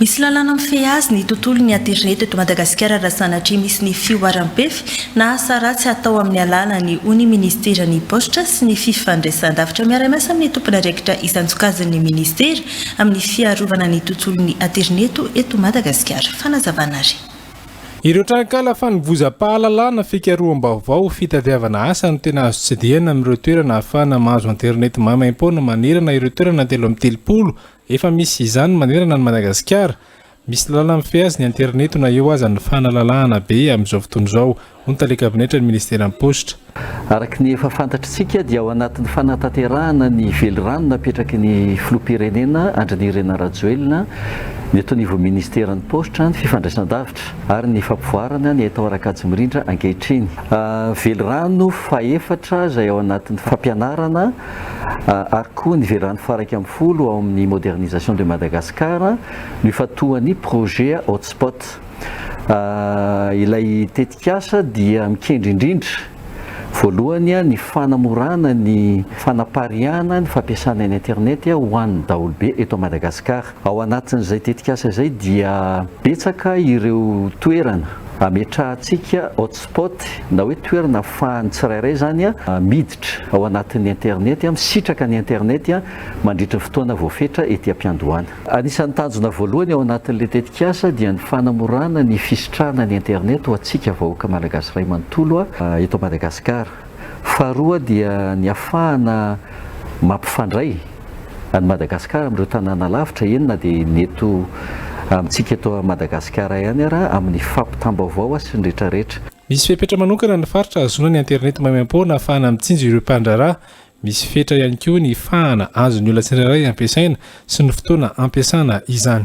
Misy lalàna mifehy azy ny tontolon'ny aterineto eto Madagasikara raha sanatria misy ny fihoaram-pefy na asa ratsy hatao amin'ny alàlany, hoy ny minisiteran'ny Paositra sy ny fifandraisandavitra. Miara-miasa amin'ny tompon'andraikitra isan-tsokazin'ny minisitera amin'ny fiarovana ny tontolon'ny aterineto eto Madagasikara. Fanazavana ary. Ireo tranonkala fanovozam-pahalalana, fikaroham-baovao, fitadiavana asa no tena azo tsidihana amin'ireo toerana ahafahana mahazo aterineto maimaim-poana manerana ireo toerana telo amby telopolo Efa misy izany manerana an'i Madagasikara. Misy lalàna mifehy azy ny aterineto na eo aza ny fanalalahana be amin'izao fotoana izao, hoy ny tale kabinetran'ny ministeran'ny paositra. Araka ny efa fantatr'isika dia ao anatin'ny fanatanterahana ny velirano napetraky ny filoham-pirenena Andry Nirina Rajoelina ny eto anivon'ny ministeran'ny paositra, ny fifandraisandavitra ary ny fampivoarana ny haitao ara-kajimirindra ankehitriny. Velirano fahefatra izay ao anatin'ny fampianarana. ary koa ny velarany faha iraika ambin'ny folo ao amin'ny Modernisation de Madagascar no ifantohan'ny Projet Hotspot. Ilay tetikasa dia mikendry indrindra, voalohany, ny fanamorana ny fanapariahana ny fampiasana ny Internet ho an'ny daholobe eto Madagascar. Ao anatin'izay tetikasa izay dia betsaka ireo toerana ametrahantsika hotspot na hoe toerana afahan'ny tsirairay izany miditra ao anatin'ny internet, misitraka ny internet mandritry ny fotoana voafetra ety am-piandohana. Anisan'ny tanjona voalohany ao anatin'ilay tetikasa dia ny fanamorana ny fisitrahana ny internet ho antsika vahoaka malagasy iray manontolo eto Madagasikara. Faharoa dia ny hafahana mampifandray an'i Madagasikara amin'ireo tanàna lavitra, eny na dia ny eto amintsika eto Madagasikara ihany ara, amin'ny fampitam-baovao a sy ny rehetra rehetra. Misy fepetra manokana ny faritra hahazoana ny aterineto maimaim-poana hafahana mitsinjo ireo mpandraharaha. Misy fetra ihany koa ny fahana azon'ny olona tsirairay ampiasaina sy ny fotoana ampiasana izany.